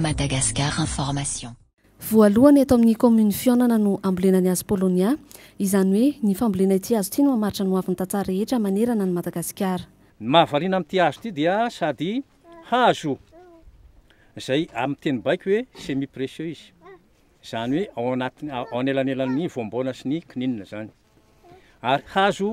Madagascar Information. Voalohany eto amin'ny kaominina Fihaonana no hambolena ny hazo Paulownia, izany hoe ny fambolena ity hazo ity no hamaritra ny hoavin'ny tantsaha rehetra manerana an'i Madagasikara. Ny mahavariana amin'ity hazo ity dia sady hazo izay amin'ny teny baiko hoe semi precieux izy, izany hoe ao anaty ao anelanelan'ny voambaona sy ny kininina izany, ary hazo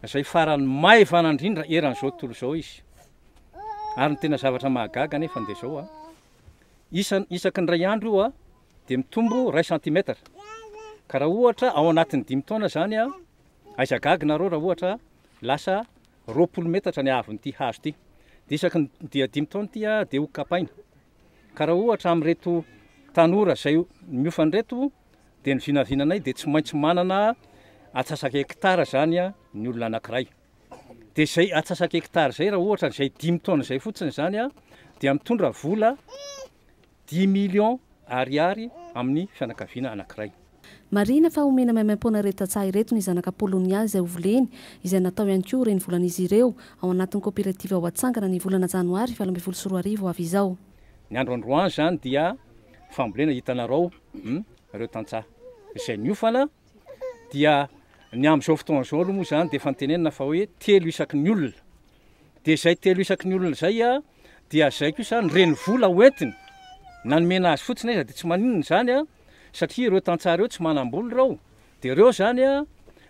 izay faran'ny maivana indrindra eran'izao tontolo izao izy, ary ny tena zavatra mahagaga anefa dia izao a, isan isaky ny iray andro io a dia mitombo iray centimetre, ka raha ohatra ao anatin'ny dimy taona izany a, aiza gaga nareo raha ohatra lasa Roapolo metatra ny haavon'ity hazo ity, dia isaky ny dia dimy taona ity dia ho kapaina. Ka raha ohatra amin'ireto tanora izay miofana ireto dia ny vinavinanay dia tsy maintsy manana atsasaka hekitara izany ny olona anankiray. Dia izay atsasaka hekitara izay raha ohatra izay dimy taona izay fotsiny izany dia mitondra vola dimy millions Ariary amin'ny fianakaviana anankiray. Marihina fa omena maimaim-poana ireto tantsaha ireto ny zanaka Polonià izay hovoleny, izay natao ihany koa ho renivolan'izy ireo, ao anatin'ny koperativa ho atsangana ny volana janoary valo ambin'ny folo sy roa arivo ho avy izao. Ny andro androany izany dia fambolena hitanarao ireo tantsaha izay miofana dia ny amin'izao fotoana izao aloha moa izany dia efa nitenenina fa hoe telo isaky ny olona dia izay telo isaky ny olona izay a dia izay koa izany reny vola hoentiny nanomena azy fotsiny iza dia tsy maninona izany a satria ireo tantsaha ireo tsy manam-bola ireo dia ireo izany a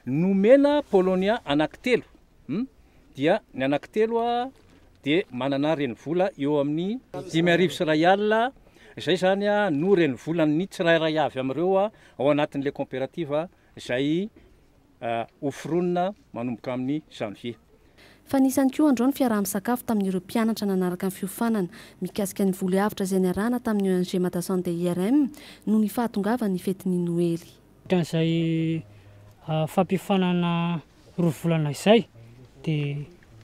nomena polonia anankitelo hmm? dia ny anankitelo a dia manana renivola eo amin'ny dimy arivo sy iray alina, izay izany no renivolan'ny tsirairay avy amin'ireo ao anatin'ilay kaoperativa izay hoforonina manomboka amin'ny janvier. Fa nisy ihany koa androany fiaraha-misakafo tamin'ireo mpianatra nanaraka ny fiofanana mikasika ny voly avotra izay niarahana tamin'ny ONG Madasunday-IRM noho ny fahatongavan'ny fetin'ny Noely. Ohatran'izay fampiofanana roa volana izay dia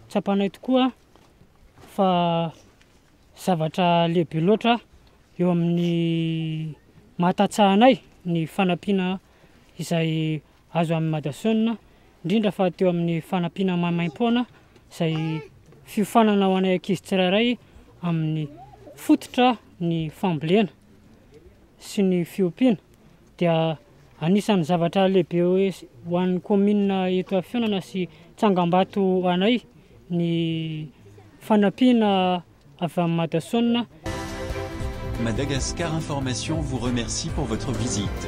tsapanay tokoa fa zavatra lehibe loatra eo amin'ny mahatatsahanay ny fanampiana izay azo amin'i Madason, indrindra fa teo amin'ny fanampiana maimaim-poana izay fiofanana ho anay ankizy tsirairay amin'ny fototra ny fambolena sy ny fiompiana. dia anisan'ny zavatra lehibe ho an'ny kaominina eto Afianana sy Tsangambato anay ny fanampiana avy amin'ny Madason. Madagascar Information vous remercie pour votre visite.